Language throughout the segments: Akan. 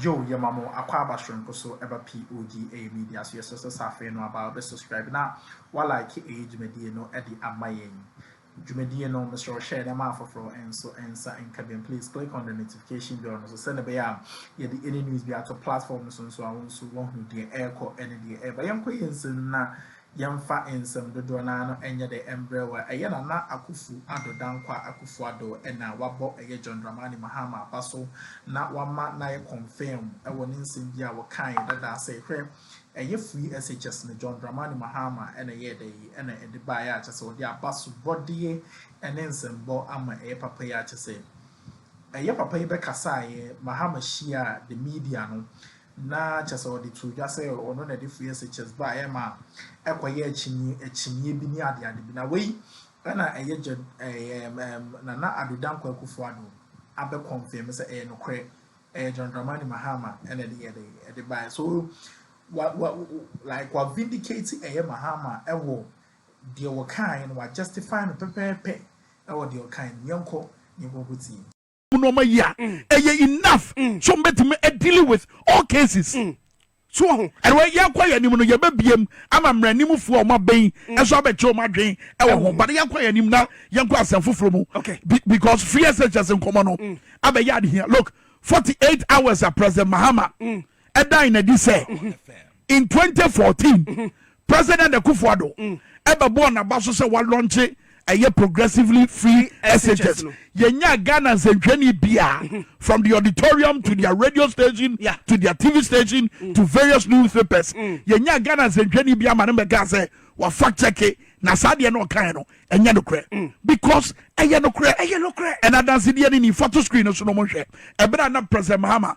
Yow yɛma mo akwaaba soronko so ɛba POG ɛyɛ media so yɛsrɛ sɛ sɛ afei no aba wobɛ subscribe na wa like ɛyɛ dwumadie no ɛde ama yɛn dwumadie no mesrɛ wo hyɛ ɛdɛ ma afoforɔ nso nsa nka biam please click on the notification bell no so sɛne ɛbɛyɛ a yɛde any news bi ato platform no so nso a wo nso woahunu deɛ ɛrekɔ ɛne deɛ ɛreba yɛnkɔ yɛn nsɛm na Yɛmfa nsɛm dodoɔ no ara no nyɛ dɛ mbrɛ wa ɛyɛ Nana Akufu Addo Dankwa Akufu Addo na wabɔ ɛyɛ John Dramani Mahama aba so na wama no ayɛ confirm wɔ ne nsɛm bi a wɔkaeɛ dada sɛ hwɛ ɛyɛ free SHS no John Dramani Mahama na ɛyɛɛ dɛ yi na ɛde baeɛ a kyɛ sɛ ɔde abasobɔdeɛ ne nsɛmbɔ ama ɛyɛ papa yi a kyɛ sɛ ɛyɛ papa yi bɛkasaeɛ Mahama hyiaa the media no Na kyerɛ sɛ wɔde too dwa sɛ ɔno na ɛde foyɛ sɛ chess ba a ɛyɛ ma ɛkɔyɛ akyinnye akyinnye bi ne adeade bi. Na wei na ɛyɛ Gen. Ɛɛm ɛɛm Nana Addo Dankwa Akufo Addo abɛ confirm sɛ ɛyɛ nokorɛ, ɛyɛ John Dramani Mahama na ɛde yɛ dɛn ɛde baeɛ. So wa wa like wa vindicate ɛyɛ Mahama ɛwɔ deɛ wɔkaaeɛ no, wa justify no pɛpɛɛpɛ ɛwɔ deɛ ɔkaaeɛ no mu. Yɛnkɔ na yɛnkɔ nkɔtie. mu nneɛma yi a mm. ɛyɛ enough mm. so mbɛtumi dealing with all cases mm. so wɔ ho ɛnna yɛkɔ yɛn anim no yɛbɛbiem ama mmaranimfoɔ a wɔn abɛn ɛso abɛkyɛ wɔn adwen ɛwɔ ho bade yɛkɔ yɛn anim na yɛnkɔ asɛm foforɔ mu because free ɛsɛ kyɛ se nkɔmɔ no abɛyɛ adehia look forty eight hours a president mahama. Mm. ɛdae no adi sɛ in 2014 President Akufo-Addo ɛbɛbɔɔ n'aba so sɛ walɔnkye ɛyɛ progressively free SHS no. Yɛnyaa Ghana nsɛnhwɛni biara from the auditorium to their radio station to their TV station to various newspapers. Yɛnyaa Ghana nsɛnhwɛni biara ma no bɛkaa sɛ wa fact check na saa deɛ no ɔkaeɛ no ɛnyɛ nokorɛ because ɛyɛ nokorɛ ɛyɛ nokorɛ ɛna adansedeɛ no ni fa to screen no so no mo nhwɛ ɛberɛ a na President Mahama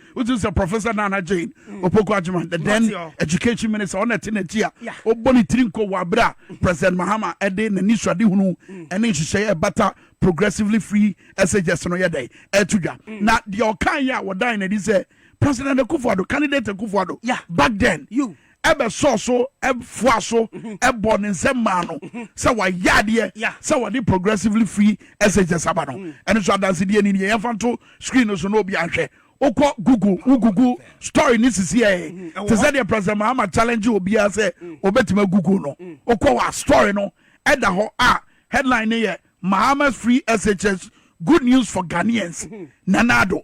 wotu sɛ professor nana jane mm. opoku adwuma the then education minister ɔna ɛte n'akyi a ɔbɔ ne tiri nko wɔ abere a mm. president mahama ɛde n'ani suade hunu mm. ɛne nhyehyɛeɛ ɛbata progressively free ɛsɛgyɛs no yɛ dɛ ɛto dwa na deɛ ɔkan yɛ a wɔdan n'adi sɛ president akufo-addo candidate akufo-addo back then you bɛsɔɔ so foaa so bɔɔ ne nsam maa no sɛ wayɛ adeɛ sɛ wɔde progressively free SHS aba no. Ɛno nso adansedeɛ ni deɛ yɛmfa nto screen no so na obi anhwɛ. Wokɔ Google wo Google story no sisi ɛɛ te sɛ deɛ President Mahama challenge obiara sɛ obɛtumi agoogle no. Wokɔ hɔ a story no ɛda hɔ a headline no yɛ Mahama's free SHS good news for Ghanaians. Nana Addo.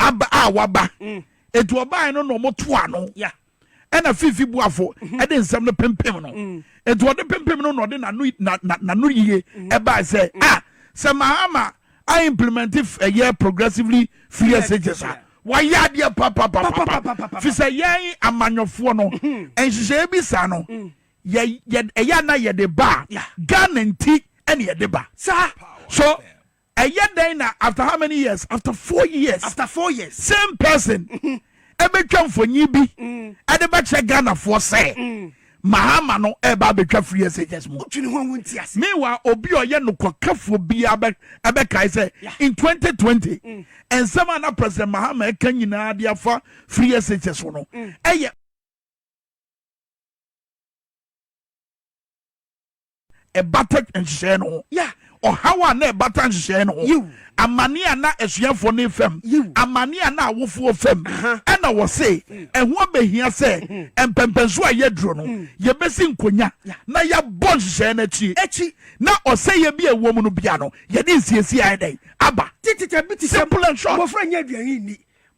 aba a waba mm. eti ɔbaa no na ɔmo to ano ɛna fifi buafo mhm. ɛde nsɛm no pempem no mm. eti ɔde pempem no na ɔde nanu na na nanu yie mm. ɛbaa sɛ mm. a ah, sɛ mahama a implement ɛyɛ progressively free messages a wɔayɛ adeɛ papapapapa fi sɛ yɛn amanyɔfoɔ no mhm. nhyehyɛeɛ bi saa no yɛ yɛ ɛyɛ na yɛde ba ghana nti ɛna yɛde ba saa so. Ɛyɛ dɛn na after how many years after four years after four years same person ɛbɛtwa mhm. mfonyin bi mm. ɛde bɛkyerɛ Ghanafoɔ sɛ mm. mahama no ɛba abɛtwa free SHS mu wotwene ho awo nti ase meanwhile obi a ɔyɛ nokɔkafoɔ biara ɛbɛkae sɛ in 2020 mm. nsɛm a na president mahama ɛka nyinaa de afa free SHS ho no ɛyɛ ɛbata nhyehyɛeɛ no ho ɔhaw a na ɛbata nhyehyɛeɛ no ho amane a na asuafoɔ no fam amane a na awofoɔ fam ɛna wɔ se mm. ɛho abɛhia sɛ mm-hmm. mpɛmpɛnso a yɛaduro no mm. yɛbɛsi nkonya na yɛabɔ nhyehyɛeɛ no akyi na ɔsɛeɛ bi a ɛwɔ mu no bia no yɛde nsiesie ayɛ dɛn aba simple and short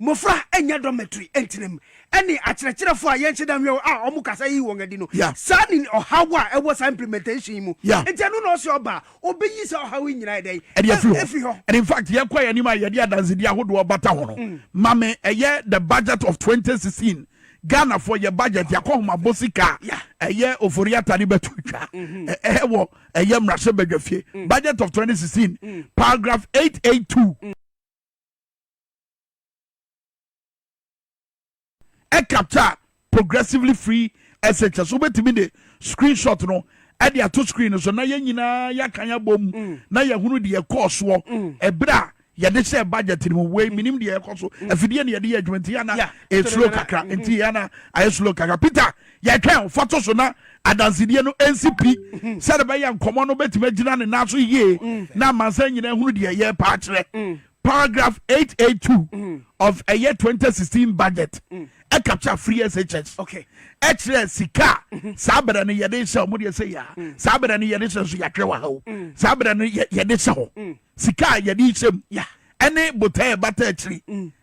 Mmofra nyɛ dormitory ntenam ne akyerɛkyerɛfo a yɛnhyɛ da nhwɛ wɔn a wɔn kasa yi wɔn adi no. Saa ne ɔhaw a ɛwɔ saa implementation yi mu. Enti ɛno na ɔse ɔba a, obeyi saa ɔhaw yi nyinaa ɛdɛn? Ɛde afiri hɔ. Afiri hɔ. And in fact, yɛkɔ yɛn anim a yɛde adansedi ahodoɔ bata ho no, ma me ɛyɛ the budget of 2016 Ghanafoɔ yɛ budget yɛakɔ homabɔ sika a ɛyɛ ofori ata ne bɛto twa ɛwɔ ɛyɛ mmarahyɛ badwafie budget of 2016 paragraph 882. ɛkapta progressively free SHS so wobɛtumi de screen shot no ɛde ato screen no so na yɛn nyinaa yɛaka yɛabɔ mu mm. na yɛhunu deɛ ɛkɔɔ soɔ mm. ɛberɛ a yɛde hyɛ budget no mu wei mm. menim deɛ ɛkɔ so afidie ne yɛde yɛ adwuma nti yɛna ɛslo eh, kakra mm-hmm. nti yɛna ayɛ eh, slow kakra peter yɛtwɛn fa to so na adansedie no ɛnsi pi mm-hmm. sɛde bɛyɛ nkɔmmɔ no bɛtumi agyina ne nan so yie na amansa nyinaa hunu deɛ yɛpaa kyerɛ Paragraph eight eight two of ɛyɛ twenty sixteen budget ɛkapkya free SHS ɛkyerɛ sika saa bɛrɛ no yɛde hyɛ ɔmo deɛ sɛ yɛ a saa bɛrɛ no yɛde hyɛ nso yɛatwerɛ wɔ ha o saa bɛrɛ no yɛde hyɛ hɔ sika a yɛde hyɛ mu ɛne botɛɛ bata akyiri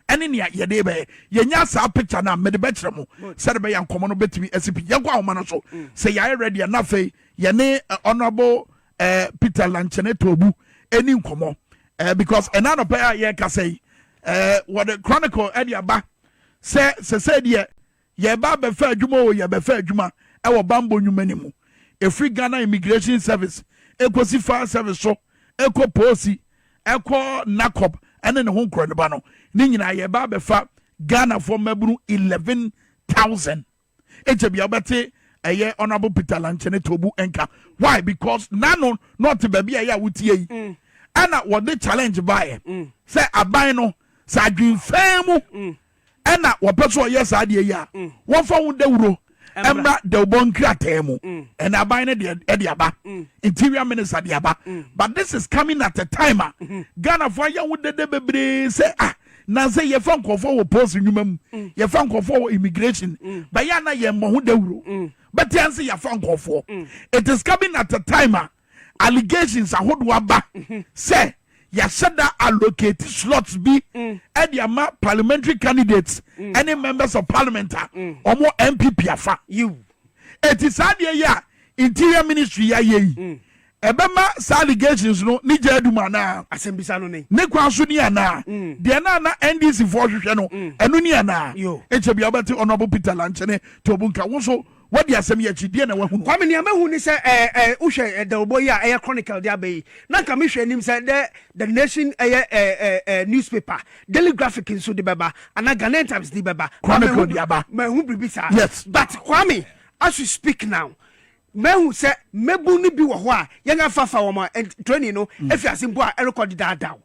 ɛne nea yɛde bɛyɛ yɛnya saa picture no a mede bɛkyerɛ mo sɛde bɛyɛ nkɔmmɔ no bɛtumi asi pi yɛnkɔ ahoma no so sɛ yɛayɛ ready a na afei yɛne honorable eh, Peter Lanchene Tobu ɛni nkɔmɔ eh, because ɛna anɔpɛ a yɛrekasa yi eh, wɔde chronicle ɛde aba sɛ sɛsɛ deɛ yɛba abɛfa adwuma o yɛbɛfa adwuma ɛwɔ bambɔ nnwuma no mu ɛfiri Ghana Immigration Service ɛkɔsi fire service so ɛkɔ poosi ɛkɔ NACOP ɛne ne ho nkorɔ ne ba no ne nyinaa yɛba abɛfa Ghanafoɔ mmabunu 11,000 agya bia wobɛte ɛyɛ honorable peter lankyɛne tobu nka why because nano na ɔte baabi a ɛyɛ a wotie yi mm. ɛna wɔde challenge baeɛ mm. sɛ aban no sɛ adwenfɛn mu mm. ɛna wɔpɛ so ɔyɛ saa deɛ yi a wɔmfa ho dawuro ɛmmra dawubɔ nkrataa mu ɛna aban no de aba interior minister de aba but this is coming at a time a mm-hmm. ghanafoɔ ayɛ ho dede bebree sɛ ah na sɛ yɛfa nkɔfoɔ wɔ post nnwuma mu mm. yɛfa nkɔfoɔ wɔ immigration mm. bɛyɛ na yɛn mmɔ ho dawuro mm. bɛte anse yɛfa nkɔfoɔ mm. it is coming at a time a allegations ahodoɔ aba mm-hmm. sɛ yɛahyɛ da allocate slots bi mm. ɛde ama parliamentary candidates mm. ɛne members of parliament a mm. wɔn npp afa eti saa deɛ yɛ a interior ministry yɛ ayɛ yi. Mm. Ɛbɛma saa allegations no ne gya adum anaa? Asɛmbisa no ne. Ne kwan so ni anaa? Deɛ na na NDC foɔ hwehwɛ no, ɛno ni anaa? Ekyɛ bia wobɛte Honourable Peter Lankyene Tobu nka. Wo nso woadi asɛm yi akyi, deɛ na wahunu? Kwame, Nea mahu ne sɛ ɛɛ ɛɛ wohwɛ ɛdawubɔ yi a ɛyɛ Chronicle de aba yi, na nka mehwɛ anim sɛ dɛ The Nation ɛyɛ ɛɛ ɛɛ ɛɛ newspaper, Daily Graphic nso de bɛba, anaa Ghanaian Times de bɛba. Chronicle de aba. Manhu biribi saa. Yes. But Kwame, as we speak now, Mahu sɛ mmabun no bi wɔ hɔ a yɛn afaafa wɔn a training no afi ase mpo a ɛrekɔ dedaadaw.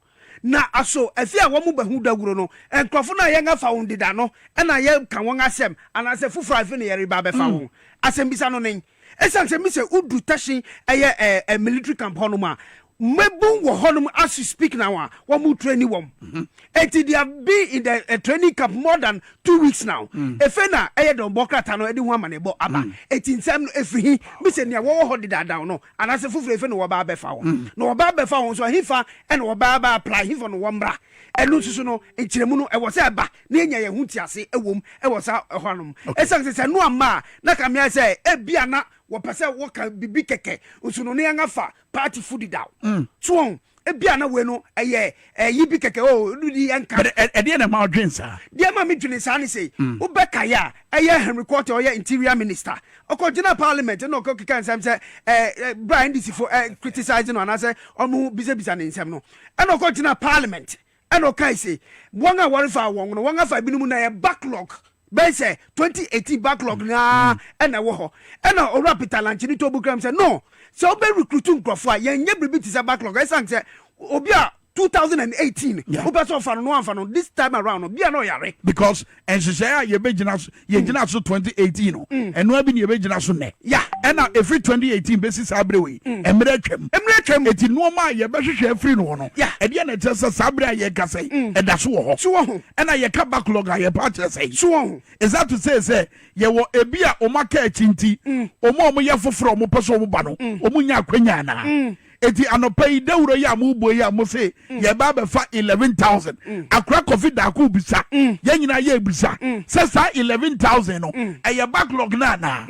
Na aso afi a wɔbɛhu dawuru no, nkurɔfo no a yɛn afa wɔn deda no na yɛka wɔn asɛm anaasɛ foforo a afi na yɛreba abɛfa wɔn? Asɛmmisa no nen. Esiane sɛ mise wodu Tashin, ɛyɛ military camp hɔnom a, Mmabun wɔ hɔnom as we speak now a wɔn training wɔn. Eti they have been in the uh, training camp more than two weeks now. Mm. Efe na ɛyɛ dɔn bɔ krataa no ɛde ho amanebɔ aba. Mm. Eti nsɛm no efiri hi bisɛ nea wɔwɔ hɔ dedaadaa no anaasɛ foforɔ efe na wɔba abɛfa wɔn. Mm. Na wɔba abɛfa wɔn nso ahefa ɛna wɔba aba apply hefa na wɔn mmra. Ɛno nso so no nkyerɛmu no ɛwɔ sɛ ɛba na yɛnya yɛn ho ti ase ɛwom ɛwɔ saa ɛhɔ anom. Ɛsan sɛ sɛ no amma a na kamea sɛ ebi ana wɔpɛ sɛ wɔka bibi kɛkɛ nso no ne yɛn afa party food da o mm. so wɔn ebi a na wei no ɛyɛ ɛyi bi kɛkɛ o oh, di yɛn ka. ɛdeɛ na ɛma ɔdwen saa. deɛ ɛma mi dwen saa ni sɛ mm. wobɛka yɛ a ɛyɛ henry kwate ɔyɛ interior minister ɔkɔ gyina parliament ɛna ɔkɔ keka nsɛm sɛ ɛɛ bra ndc fo ɛɛ criticize no anaasɛ ɔmo bisabisa ne nsɛm no ɛna ɔkɔ gyina parliament Ɛna ɔkae se, Wɔn a wɔrefaa wɔn no, wɔafa ebinom na ɛyɛ backlog, bɛyɛ sɛ twenty eighteen backlog no ara na ɛwɔ hɔ. Ɛna Owura Peter Lanchene too bo kram sɛ, No, sɛ wobɛ recruit nkurɔfo a, yɛnyɛ biribi te sɛ backlog, ɛsiane sɛ obi a two thousand and eighteen wopɛ sɛ ɔfa no na wamfa no no, this time around no, bia na ɔyare. Because nhyehyɛe a yɛbɛgyina so yɛgyina so 2018 no mm. ɛno abi ne yɛbɛgyina so nnɛ ya ɛna ɛfiri 2018 bɛsi saa berɛ wei mm. mmerɛ atwam mmerɛ atwam ɛti nnoɔma a yɛbɛhwehwɛ afiri no hɔ no ɛdeɛ na ɛkyerɛ sɛ saa berɛ a yɛka sɛ mm. ɛda so wɔ hɔ so wɔ ho ɛna yɛka backlog a yɛpa akyerɛ sɛ so wɔ ho ɛsa to sɛ sɛ yɛwɔ ebi a ɔma ka akyi nti ɔma ɔmo yɛ foforɔ ɔmo pɛ sɛ ɔmo ba no ɔmo nya akwanya anaa Eti anɔpa yi dawuro yi a mo bɔ yi a mo se yɛ ba abɛfa eleven thousand akora kɔfi daako bisa yɛn nyinaa yɛ bisa sɛ saa eleven thousand no ɛyɛ backlog no anaa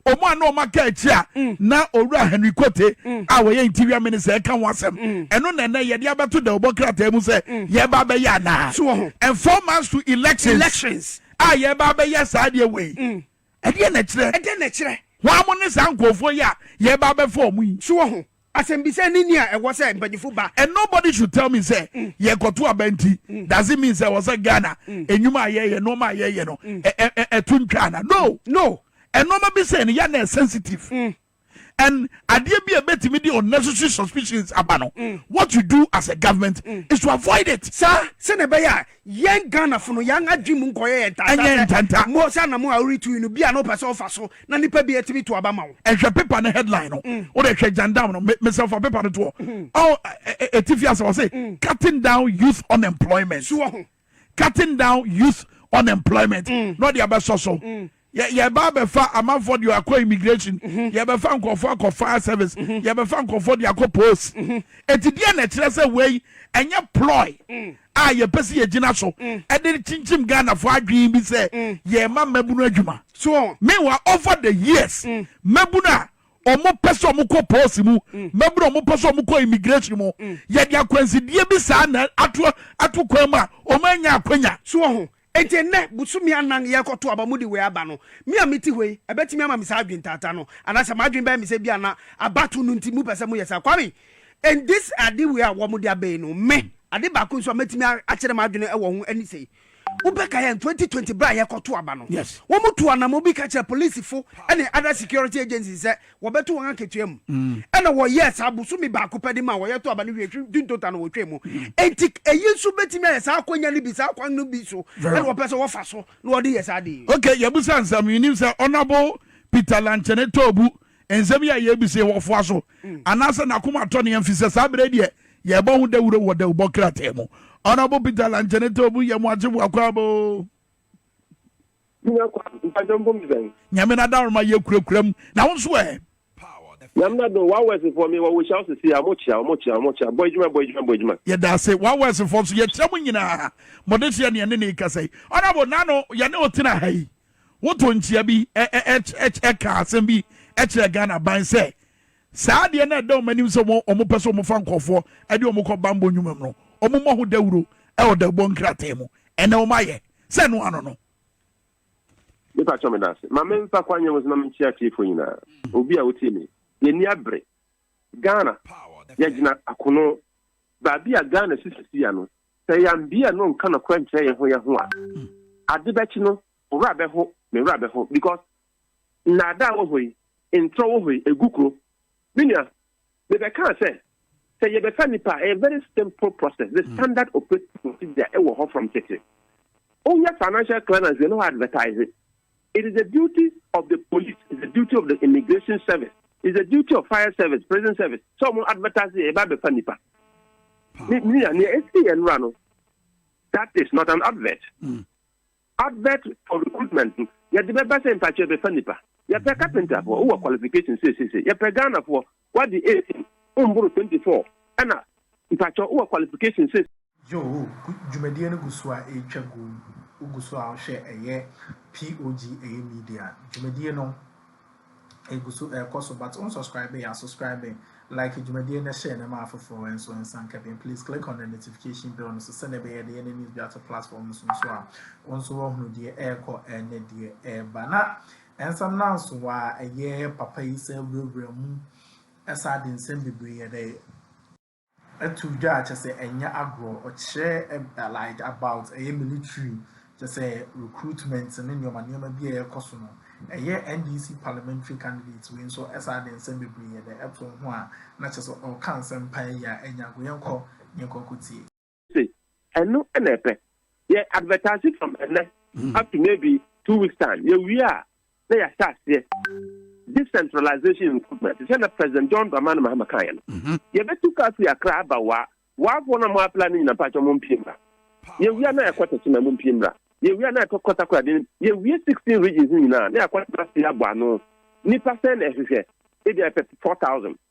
ɔmo a na ɔmo aka akyi a na owura henry kote a wɔyɛ interior minister ɛka ho asɛm ɛno na ɛnɛ yɛde abɛto dawubɔ krataa mu sɛ yɛba abɛyɛ anaa and four months to elections a yɛba abɛyɛ saa deɛ wei Ɛdeɛn na ɛkyerɛ? Ɛdeɛn na ɛkyerɛ? Hwan mo ne saa nkurɔfoɔ yi a yɛreba abɛfa wɔn yi? So wɔ ho? Asɛmbisa ne ni a ɛwɔ sɛ mpanyinfo ba. And nobody should tell me sɛ mm. yɛkɔto aba nti mm. does it mean sɛ wɔ sɛ Ghana mm. enyuma a yɛyɛ nneɛma a yɛyɛ no ɛto ntwa ana? No. No. Nneɛma bi sɛ no yɛ na sensitive. and adeɛ bi a ɛbɛtumi de unnecessary suspicions aba no what you do as a government is to avoid it. saa sɛnea ɛbɛyɛ a yɛn ghanafo no yɛn adwene mu nkɔyɛ yɛn ntanta Ɛnyɛ sɛ ntanta. mo sɛ anamo a woretu yi no bi a na wopɛ sɛ wofa so na nipa bi atumi to aba ma wo ɛhwɛ paper no headline no wode hwɛ jandam no me- mesɛmfa paper no toɔ Ɔ- ɛ- ɛ- ɛtifi ase wɔ se cutting down youth unemployment so wɔ ho cutting down youth unemployment na ɔde abɛsɔ so yɛba abɛfa amanfoɔ deɛ akɔ immigration mm-hmm. yɛbɛfa nkurɔfoɔ akɔ fire service mm-hmm. yɛbɛfa nkurɔfoɔ deɛ akɔ post ɛti mm-hmm. deɛ na ɛkyerɛ sɛ wei ɛnyɛ ploy mm. a yɛpɛ sɛ yɛgyina so mm. ɛde kyinkyim ghanafoɔ adwene bi sɛ mm. yɛma mmabunu adwuma mewa over the years mmabunu a ɔmo pɛ sɛ ɔmo kɔ pɔɔsi mu mmabunu ɔmo pɛ sɛ ɔmo kɔ immigration mu yɛde akwansideɛ bi saa na ato ato kwan mu a ɔmo anya akwanya. so wɔ ho eti nnɛ busumi anan yɛkɔto aba mu de wei aba no mi a mi ti hɔ yi ɛbɛtumi ama mi saa adwene taataa no anaasɛ m'adwene bɛyɛ mi sɛ bi a na abato no nti mu pɛ sɛ mo yɛ saa kwame and this ade wei a wɔn de abɛyi no me ade baako nso a mɛtumi akyerɛ m'adwene wɔ ho ɛne sɛ yi. Wobɛka yɛn twenty twenty bere a yɛkɔto aba no, wɔtuu anammɔn bi ka kyerɛɛ polisifo ne other security agencies sɛ wɔbɛto wɔn akatua mu. Ɛnna wɔyɛɛ saa. Bosome baako pɛ de maa wɔyɛtoo aba no wiei, hwe June total no wɔtwae mu. Enti eyi nso betumi ayɛ saa akwannya no bi, saa kwan no bi so na wɔpɛ sɛ wɔfa so na wɔde yɛ saa ade yi. Okay, yɛabisa nsɛm. Yenim sɛ Honourable Peter Lankyene Toobu Nsɛm yi a yɛrebisa yi wɔ foa so anaasɛ n'akoma atɔ ne yam fi sɛ saa berɛ yi deɛ yɛrebɔ ho dawuro wɔ dawubɔ krataa mu. Honourable Peter Lankyɛne Tawbu yɛ mo akyefo Akwaaboo. Nyamena Adaworoma yɛ kurakura mu. Na wo nso ɛ? Nyamena do wa wɛsifoɔ mi wɔ wo hyɛ ɔsisi a mo kyia mo kyia mo kyia bɔ adwuma bɔ adwuma bɔ adwuma. Yɛ da ase wa wɛsifoɔ nso yɛ kyia mo nyinaa mo de hyɛ ne ɛne ne kasa yi. Honourable nano yɛne otena ha yi Woto nkyea bi ka asɛm bi kyerɛ Ghana ban sɛ, saa adeɛ no a ɛda wɔn anim sɛ wɔpɛ sɛ wɔfa nkurɔfoɔ de wɔn kɔ bammɔ nnwuma mu no, wɔmmɔ ho dawuro wɔ dawubɔ nkrataa mu. Ɛnnɛ wɔayɛ sɛ ɛno ano no. Me pa kyɛw me da ase. Ma me nfa kwan yɛn wɔsɛ na me nkyɛ atiefo nyina. Obi a wotie me. Yɛ ni abre. Ghana, yɛ gyina akono. Baabi a Ghana sisi si ya no, Sɛ yɛammue no nka nokorɛ nkyerɛ yɛn ho yɛn ho a, ade bɛkye no, wo werɛ bɛho, me werɛ bɛho, because nnaadaa wɔ hɔ yi, ntorɔ wɔ hɔ yi, ɛgu kuro. Me nua, mebɛkaa sɛ, sɛ yɛbɛfa nipa a, ɛyɛ very simple process, the standard operating procedure ɛwɔ hɔ from tete. Woyɛ financial clearance, yɛne hɔ advertise. It is the duty of the police, is the duty of the immigration service, is the duty of fire service, prison service. So mo advertise yɛ ba bɛfa nipa. Ni ni ya ni esi yɛ nura no. That is not an advert. Mm. Advert for recruitment. Yɛ de bɛ bɛ sɛ mpatsɛ bɛfa nipa. Yɛ pɛ carpenter fo, wɔ qualification sesese. Yɛ pɛ Ghana fo, Wadi eight wo mboro twenty four ɛna mpakyɛw wowɔ qualification sɛ. Yoo dwumadie no gu so a ɛretwa gu wogu so a wohwɛ ɛyɛ POG ɛyɛ media dwumadie no ɛgu so ɛrekɔ so but won subscribe yɛ a subscribe like dwumadie no share no ma afoforɔ nso nsa nka bi please click on the notification bell no so sɛdeɛ ɛbɛyɛ yɛde yɛ ne news bi ato platform no so nso a wo nso woahunu deɛ ɛrekɔ ɛne deɛ ɛreba na Nsɛm no ansow a ɛyɛ papa yi san wurawura mu san de nsɛm bebree de to dwa a, kyerɛ sɛ ɛnyɛ agorɔ. Ɔkyerɛ like about ɛyɛ military, kyerɛ sɛ recruitment ne nneɛma nneɛma bi a ɛrekɔ so no. Ɛyɛ NDC parliamentary candidate wei nso san de nsɛm bebree de to ho a, na kyerɛ sɛ ɔreka nsɛm paa yi a ɛnyɛ agorɔ. Yɛnkɔ na yɛnkɔ nkɔtie. se ɛno na ɛpɛ. Yɛ advertise from ɛnnɛ up to maybe two weeks time. Yɛ wie a na yɛ ahyɛ aseɛ decentralization recruitment. Te sɛ na President John Dramani Mahama kaa yɛ no. Mm-hmm. Yɛ bɛ tu kaa firi Accra aba waa. Waafoɔ na mo apply ne nyina mpakyɛ mo mpie mmra. Yɛ wie a na yɛ kɔ tɛkyɛ na mo mpie mmra. Yɛ wie a na yɛ kɔ kɔtakora den. Yɛ wie sixteen regions nyinaa na yɛ kɔ tɛkyɛ abɔ ano. Nipa sɛn na ɛhwehwɛ? Ebi a yɛ pɛ four thousand.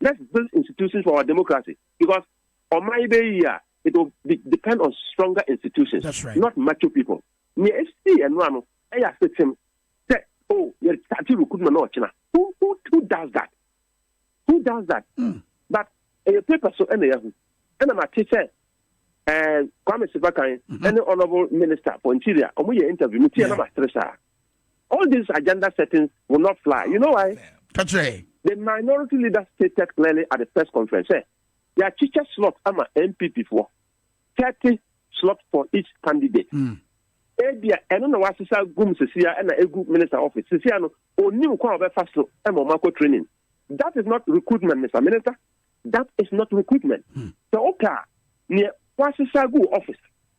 Let's build institutions for our democracy because ɔman yi bɛyɛ yie a, it will be depend on stronger institutions, That's right. not macho people. Nea esii ɛno ano ɛyɛ asetem sɛ oh yɛ start recruitment na ɔkyena. Who who who does that? Who does that? Mm. But ɛyɛ paper so ɛna yɛahu ɛna ma te sɛ ɛɛ Kwame Sefakan ɛne honourable minister for interior wɔn yɛ interview mi tiɛ na ma sere saa. All these agenda settings will not fly. You know why? Ka kyerɛ yɛn. The minority leader stated clearly at the press conference sɛ yɛakyekyɛ slot ama NPP foɔ, thirty slot for each candidate. Mm. Ebia ɛno na wasesa gum sesia ɛna egu minister office. Sesia no onim kwan a ɔbɛfa so ɛma ɔmo akɔ training. That is not recruitment, Mr. Minister. That is not recruitment. Hmm. Sɛ ɔka nea wasesa gu office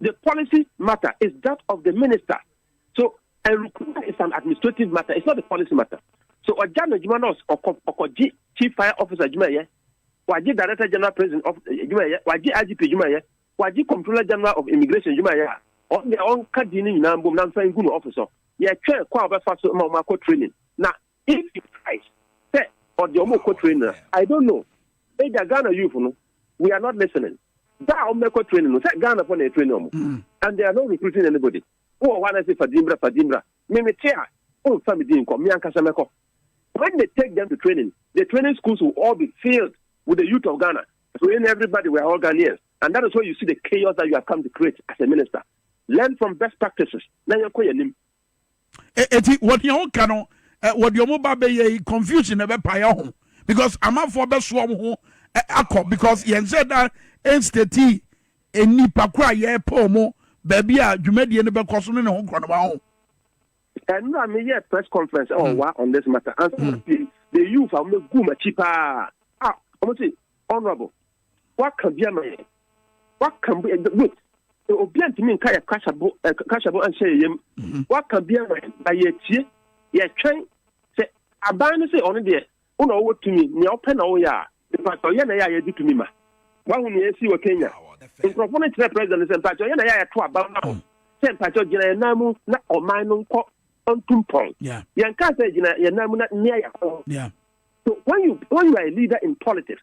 the policy matter is that of the minister so ɛrukuma is an administrative matter it's not the policy matter so ɔgya na adwuma na ɔkɔ ɔkɔgye chief fire officer adwuma yɛ wagye director general prison of adwuma yɛ wagye igp adwuma yɛ wagye comptroller general of immigration adwuma yɛ a ɔne ɔnka di ne nyinaa mbom na nfa ngu no office so yɛtwɛn kɔ a ɔbɛfa so ma ɔmo akɔ training na If you price sɛ ɔde ɔmo kɔ training na I don't know ebia Ghana youth no we are not listening da a ɔmo bɛkɔ training no sɛ Ghana fo na ɛtraining ɔmo mm. and they are not recruiting anybody wowɔ hɔ anase fa din bra fa din bra me me te a womfa me din nkɔ me ankasa mɛkɔ when they take them to training the training schools will all be filled with the youth of Ghana so in everybody we are all Ghanaians and that is why you see the chaos that you have come to create as a minister learn from best practices na yɛnkɔ yɛn anim eti wɔn deɛ wɔn ka no wɔde wɔn ba bɛyɛ yi confusion na ɛbɛ paeɛ ho because amanfoɔ bɛso wɔn ho akɔ because yɛn sɛ da ɛnstati nnipa koro a yɛpɛ wɔn baabi a dwumadie no bɛkɔ so ne ne ho korɔ no ba ho. ɛno a meyɛ press conference ɛwɔ hmm. wa on this matter ansa hmm. the youth a wɔn gu m'akyi paa a wɔn ti honourable Waka bi ama yɛn. Waka bi eh, wait. Obi antumi nka yɛ kasabo eh, kasabo anhyɛ yɛ yam. Mhm. Waka bi ama yɛn na yɛtie yɛtwɛn sɛ aban no sɛ ɔno deɛ wo na ɔwɔ tumi nea ɔpɛ na woyɛ a mpatɛ ɔyɛ na yɛ a yɛde tumi ma. Wahu nea ɛsi wɔ Kenya. Nkurɔfoɔ no kyerɛ president sɛ mpatɛ ɔyɛ na yɛ a yɛto aba ma ho. Sɛ mpatɛ gyina yɛn nan mu na ɔman no nkɔ ntumpɔn. Yɛn kaa sɛ gyina yɛn nan mu na nea yɛ ho. So when you when you are a leader in politics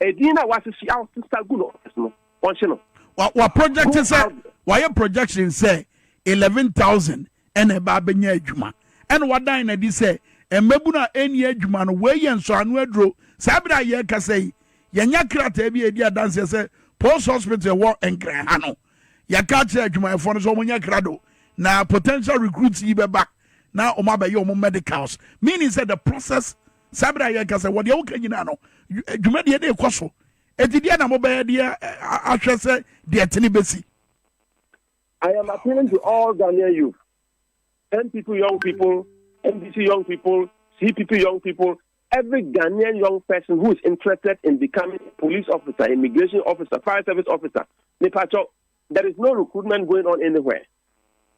Edin na wasisi awosesa gu no office no wɔnhye no. Wa wa project sɛ wayɛ projection sɛ eleven thousand ɛna ɛba abɛnya adwuma ɛna wadan na di sɛ mmabun a ɛnni adwuma no wei yɛ nsɔano aduro saa bere a yɛrekasa yi yɛnya krataa bi a ɛdi adanseɛ sɛ post hospital ɛwɔ nkran ha no yɛka akyerɛ adwumayɛfoɔ no sɛ wɔnyɛ krado na potential recruits yi bɛba na wɔn abɛyɛ wɔn medicals meaning sɛ the process Saa bere a yɛka sɛ wɔ deɛ woka nyinaa no, dwumadie no rekɔ so. Enti deɛ na mobɛyɛ deɛ ahwɛ sɛ deɛ tene bɛsi. I am appealing to all Ghanaian youth, NPP young people, NDC young people, CPP young people, every Ghanaian young person who is interested in becoming a police officer, immigration officer, fire service officer, Nipacho, there is no recruitment going on anywhere.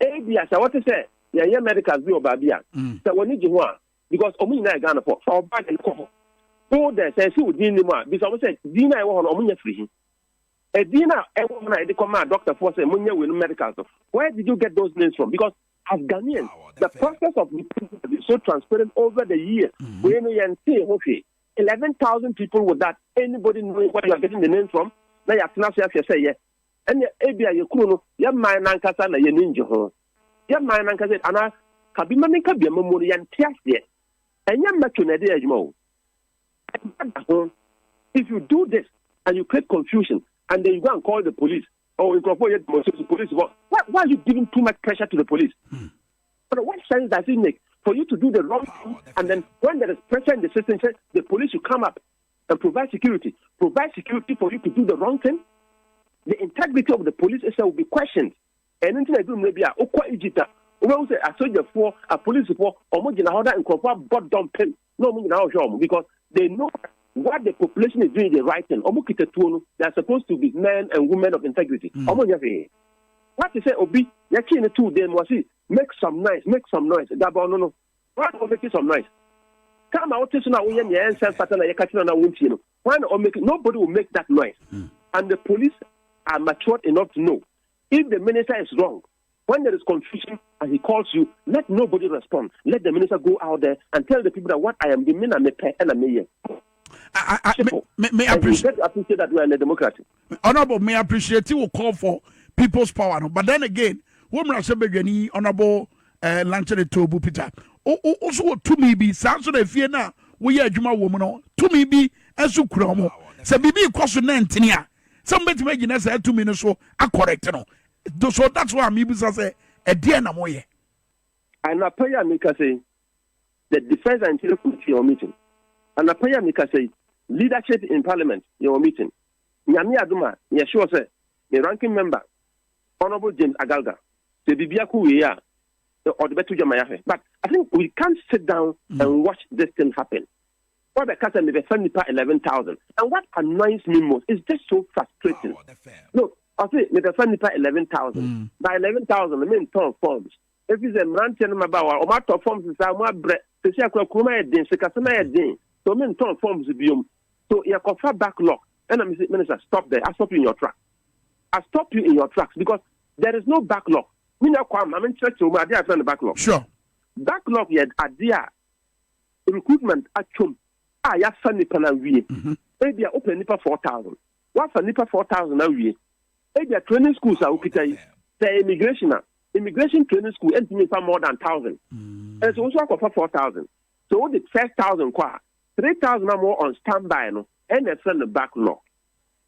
Ebia sɛ wɔte sɛ yɛyɛ medicals bi wɔ baabi a, mm. sɛ wɔn ani gye ho a, because ɔmo nyinaa yɛ Ghana fɔ fa wɔ bag no kɔ hɔ go there sɛ ɛsi wo din nim a bisa ɔmo sɛ din a ɛwɔ hɔ no ɔmo nya firi he ɛdin no a ɛwɔ hɔ no a yɛde kɔ maa doctor foɔ sɛ monyɛ wei no medicals no where did you get those names from because as Ghanaians ah, the process of is so transparent over the years mm-hmm. wei no yɛntee ho hwee 11,000 people without anybody knowing where you are getting the name from na yɛatena so ahwɛ sɛ yɛ Ɛnneɛ ebia yɛn kunu no, yɛn man no ankasa na yɛn ani ngye ho. Yɛn man no ankasa, anaa ka bi ma me nka bi ama mu no, yɛnte aseɛ. Ɛnyɛ mmɛto na ɛde yɛ adwuma o. Ɛba da ho. If you do this and you create confusion and then you go and call the police, oh, nkurɔfoɔ yɛ demonstration, police bɔ, why, why are you giving too much pressure to the police? Hmm. But what sense does it make for you to do the wrong thing and then when there is pressure in the system, say the police should come up and provide security, provide security for you to do the wrong thing, the integrity of the police itself will be questioned. ɛno nti na ɛduru mmerɛ bi a wokɔ egypt a wobɛhu sɛ asogyafoɔ apolisifoɔ ɔmo gyina hɔ na nkurɔfoɔ abɔ dɔmpem na ɔmo nyinaa ɔhwɛ ɔmo because they know what the population is doing is the right thing ɔmo kita tuo no they are supposed to be men and women of integrity mm. ɔmo nyɛ hwee wate sɛ obi yɛkyee no too dan mu ɔse make some noise make some noise dabɔ no no Hwan na ɔmmɛtie some nice car ma wote so na woyɛ nea ɛnsɛ mfata na yɛka kyerɛ na wontie no? Hwan na ɔmmɛki? Nobody will make that noise. Hmm. And the police are matured enough to know if the minister is wrong. When there is confusion and he calls you, let nobody respond. Let the minister go out there and tell the people that what I am doing, me na me pɛ, ɛna me yɛ. I, I, I, me, me, me appreciate, appreciate that we are in a democracy. Honourable me appreciate wo call for people's power no but then again wo mmarahyɛ badwani Honourable eh, Lankyere Toobu Peter wo so wɔ tumi bi saa nso na efie no a woyɛ adwuma wɔ mu no tumi bi nso kura wɔn sɛ biribi kɔ so na ntini a sɛ mobɛtumi agyina saa tumi no so akɔrɛte no so that's why mebisa sɛ ɛdeɛ na moyɛ anapa yi a meka sɛ The Defence and Interior Committee yɛ wɔn meeting. Anapa yi a mekasa yi, Leadership in Parliament yɛ wɔn meeting. Nyame adom a, meyɛ sure sɛ me Ranking Member, Honourable James Agalga, sɛ biribiara kɔ wie a, ɔde bɛto dwa ma yɛahwɛ. But I think we can't sit down and watch this thing happen. Wabɛka sɛ mebɛfa nnipa 11,000. And what annoys me most is just so frustrating. No, ɔse mebɛfa nnipa 11,000. By 11,000, mentɔn forms. Ɛfiri sɛ mmeranteɛ ne mmabaawa, wɔatɔ fam sesaa, wɔabrɛ. Seesei akora kurom ayɛ den, sikasɛm ayɛ den, so mentɔn forms biom. So yɛkɔfa backlog. Ɛna mese, Minister, stop there. I stop you in your tracks. I stop you in your tracks because there is no backlog. Me nua Kwame, ma menkyerɛkyerɛ mu adeɛ a yɛfrɛ no backlog. Sure. Backlog yɛ adeɛ a recruitment atwam a yɛafa nnipa no awie. Mm-hmm. Ebia wopɛ nnipa 4,000. Woafa nnipa 4,000 awie. Ebia training schools a wokita yi, sɛ immigration a, immigration training school ntumi nfa more than thousand. Nso wo nso akɔfa four thousand. So wode first thousand kɔ a, three thousand a wɔwɔ on standby no, ɛna ɛfrɛ no backlog.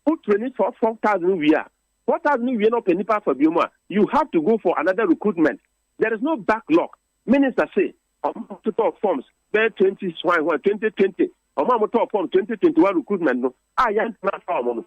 Wo training for four thousand wie a, four thousand wie na ɔpɛ nipa afa bio mu a, you have to go for another recruitment. There is no backlog. Minister se ɔmo totɔɔ forms bɛyɛ twenty hwan hwan twenty twenty ɔmo a motɔɔ form twenty twenty one recruitment no a yɛntena afa ɔmo no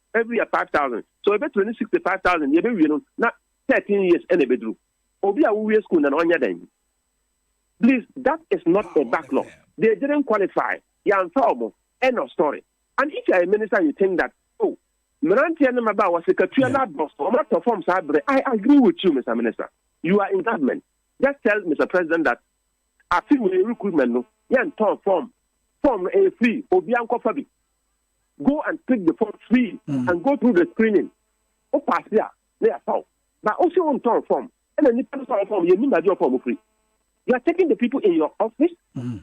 every year five thousand so ebetumi ne sixty five thousand yɛ bɛ wie no na thirteen years ɛna ebeduru obi a wowie school na na ɔnyɛ dɛn please that is not a backlog they didn't qualify yanfa ɔmo end of story and if you are a minister you think that oh mmeranteɛ no maba a wɔsɛ katua no adɔso ɔmo atɔ fam saa bere i agree with you mr minister you are in government just tell mr president that afi wei recruitment no yɛntɔn fam fam no ɛyɛ free obi ankɔfa bi go and pick the form free mm. and go through the screening o paase a na yɛafa wo ba o si o ntɔn fɔm ɛna nipa no sɔn fɔm yɛn nim baabi ɔfɔm ofiri you are taking the people in your office mm.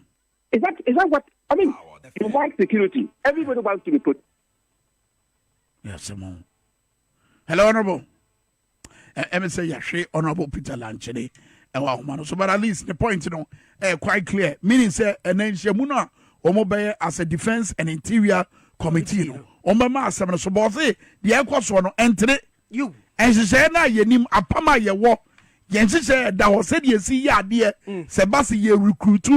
is that is that what i mean oh, you want security everybody wants to be put. Yes, Hello, Honorable. Ɛmi eh, eh, sɛ yɛhwe Honorable Peter Lankyene ɛwɔ eh, ahoma no so but at least the point no ɛyɛ quite clear meaning sɛ ɛnɛ nhyiamu no a wɔn bɛyɛ as a defence and interior committee no wɔn bɛma asɛm no so bɔɔse deɛ ɛkɔ soɔ no ɛntene nhyehyɛeɛ no a yɛnim apam a yɛwɔ Yɛn nhyehyɛɛ da hɔ sɛdeɛ yɛsi yɛ adeɛ sɛ ɛba sɛ yɛ recruit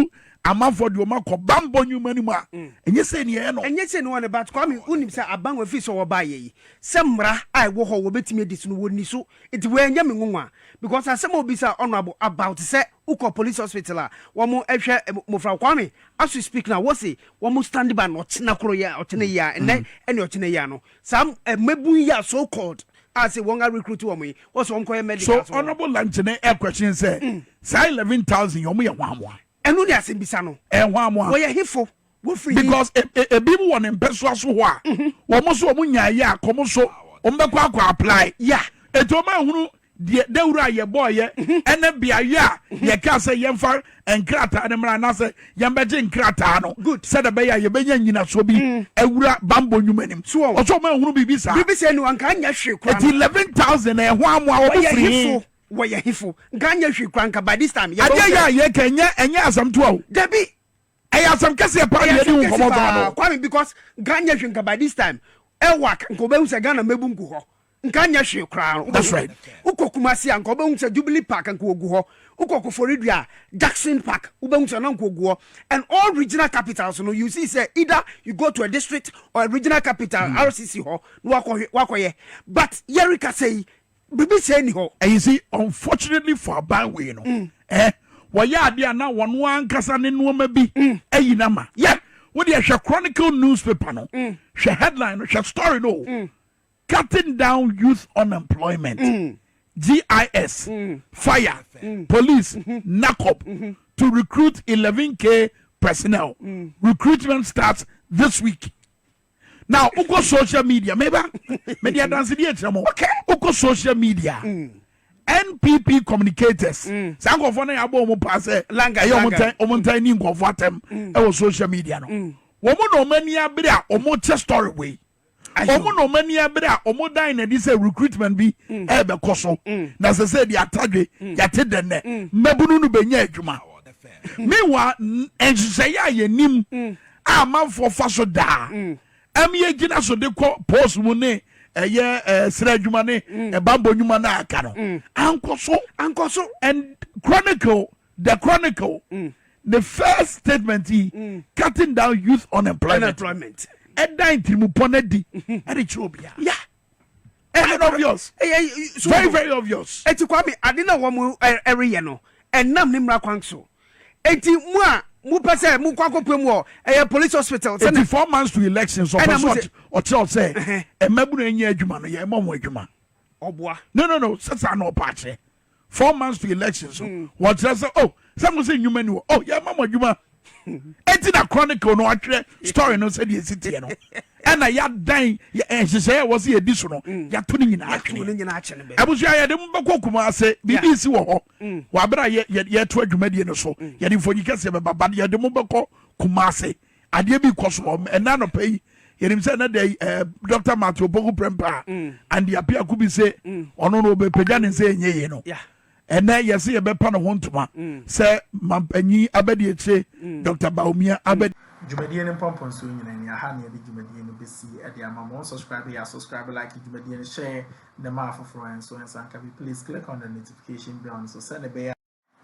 amanfoɔ de wɔn akɔ bammɔ nnwuma no mu a, ɛnyɛ sei na yɛyɛ no. Ɛnyɛ sei na wɔyɛ no, but Kwame wonim sɛ aban wɔ ɛfiri sɛ wɔbaeɛ yi sɛ mmara a ɛwɔ hɔ wɔbɛtumi adi so no wɔnni so nti wei ɛnyɛ me nwonwa because asɛm a wobisaa Honourable about sɛ wokɔ police hospital a wɔhwɛ mmofra Kwame as we speak now wose wɔn standby no ɔkyena koro yi a ɔkyena yi a nnɛ ɛne ɔkyena yi a no Saa mmabun yi a so called a se wɔn a recruit wɔn yi, wɔse wɔn kɔyɛ medical so. So honourable Lankyene ɛ question sɛ saa eleven thousand yi wɔn yɛ hwanmoa? Ɛno ne asɛmbisa no. Ɛyɛ hwanmoa? Wɔyɛ hefo? Wɔfiri he? Because ebi mo wɔ ne mpɛsoa so hɔ a, wɔn nso wɔn nyaayɛ a, kɔm so wɔn bɛkɔ akɔ apply. Yeah. Eti wɔn ahunu deɛ dawuro a yɛbɔeɛ ne beaeɛ a yɛkaa sɛ yɛmfa nkrataa no mmra anaasɛ yɛmbɛgye nkrataa no sɛdeɛ ɛbɛyɛ a yɛbɛnya nnyinasoɔ bi mm. awura bambɔ nnwuma anim ɔsɛ ɔma ahunu biribi saa biribi sɛ no anka nyɛ hwee koraa ɛti 11000 ɛho amoa wɔ firi wɔyɛ hefo nka nyɛ hwee koraa nka by this time yɛbɛwɔ adeɛ yɛ a yɛka ɛnyɛ ɛnyɛ asɛm toa o dabi ɛyɛ asɛm kɛseɛ paa yɛde wo nkɔmɔ gaa no kwame because nka nyɛ hwee nka by this time ɛwɔ nka wɔbɛhu sɛ ghana mɛbu ngu hɔ Nka nyɛ hwee koraa no. That's right. Wokɔ Kumasi a, nka wobɛhu sɛ Jubilee Park nka wɔgu hɔ. Wokɔ Koforidua a, Jackson Park wobɛhu sɛ na nka wɔgu hɔ. And all regional capitals no, you see sɛ either you go to a district or a regional capital, mm. RCC hɔ, na wakɔhwɛ, wakɔyɛ. But yɛreka sɛ yi, biribi sɛ ni hɔ. And you see, unfortunately for aban wei no, mm. eh, wɔyɛ adeɛ a na wɔn ankasa ne nneɛma bi mm. ayi na ma. Yeah. Wode ɛhwɛ Chronicle newspaper no, mm. hwɛ headline no, hwɛ story no. Mm. cutting down youth unemployment, GIS, fire, police, NACOP to recruit 11k personnel. Recruitment starts this week. Now, uko social media, meba, media dance di echemo. Uko social media. NPP communicators. Sa nkofo na yabo omo pa se. Langa, langa. Omo tan, omo tan ni nkofo atem. Ewo social media no. Womo na omo ani abere a omo che story way. wɔn na wɔn ani abere a wɔn dan n'adi sɛ recruitment bi mm. ɛrebɛkɔ so mm. na sɛ sɛ de atadwe mm. yɛte dɛ nnɛ mmabunu no bɛnya adwuma mewa nhyehyɛeɛ a yɛnim a amanfoɔ fa so daa ɛm yɛgyina so de kɔ post mu ne ɛyɛ ɛɛ srɛ adwuma ne ɛbambɔ nnwuma no a aka no ankɔ so ankɔ so and chronicle The Chronicle ne first statement yi, Cutting Down Youth Unemployment, ɛda ntirimupɔ no adi ɛde kyerɛ obiara. Ɛyɛ obvious. Ɛyɛ very very obvious. Eti Kwame, ade na wɔn ɛreyɛ no, ɛnam ne mmara kwan so. Eti mu a mo pɛ sɛ mo kɔ akɔpue mu wɔ ɛyɛ police hospital. Eti four months to election so ɔpɛ so ɔkyerɛ ɔsɛ mmabunu enyi adwuma no yɛ ɛmɔ wɔn adwuma. Ɔboa. No no no sɛ saa na ɔpɛ akyerɛ. four months to election so hmm. wɔkyerɛ sɛ oh sɛ mo sɛ nnwuma ni wɔ oh yɛma mo adwuma eti na chronicle no atwerɛ story no sɛdeɛ ɛsi teɛ no ɛna yɛadan nhyehyɛeɛ a wɔsɛ yɛdi so no hmm. yɛato no nyinaa twene abusua yɛde mo bɛkɔ kuma ase biribi si wɔ hɔ hmm. wɔaberɛ a yɛto adwumadie no so yɛde mfonyi kɛseɛ bɛba ba yɛde mo bɛkɔ kuma ase adeɛ bi kɔ so wɔ hɔ ɛnna anɔpa yi yɛnim sɛ ɛnɛ dɛ eh, dr matthew opoku prɛmpa a mm. ande apiako bi se mm. ɔno no ɔbɛpagya ne sɛ ɛnyɛ yie no ɛnɛ yɛsɛ yɛbɛpa ne ho ntoma mm. sɛ mampanyi abɛde akyire dr baomia abɛde dwumadie no mpɔmpɔnsoɔ nyina ni aha ne yɛde dwumadie no bɛsi ɛde ama ma ɔnsubscribe yɛ subscribe like dwumadie no hyɛ ne ma afoforɔ nso nsanka bi please click on the notification bell no so sɛ ne bɛyɛ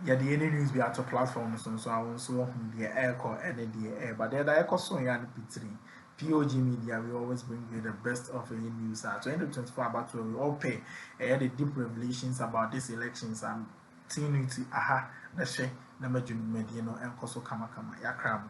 yɛde yɛn news bi ato platform so nso a wɔn nso wɔhu deɛ ɛrekɔ ɛne deɛ ɛreba deɛ ɛda ɛkɔ so yɛ ano pitiri POG media we always bring you the best of ɛyɛ news a 2024 abatoɔ we all pay ɛyɛ the deep revelations about this elections and tinu ti aha na hyɛ na madwuma dwumadie no ɛnkɔ so kamakama yakra mu.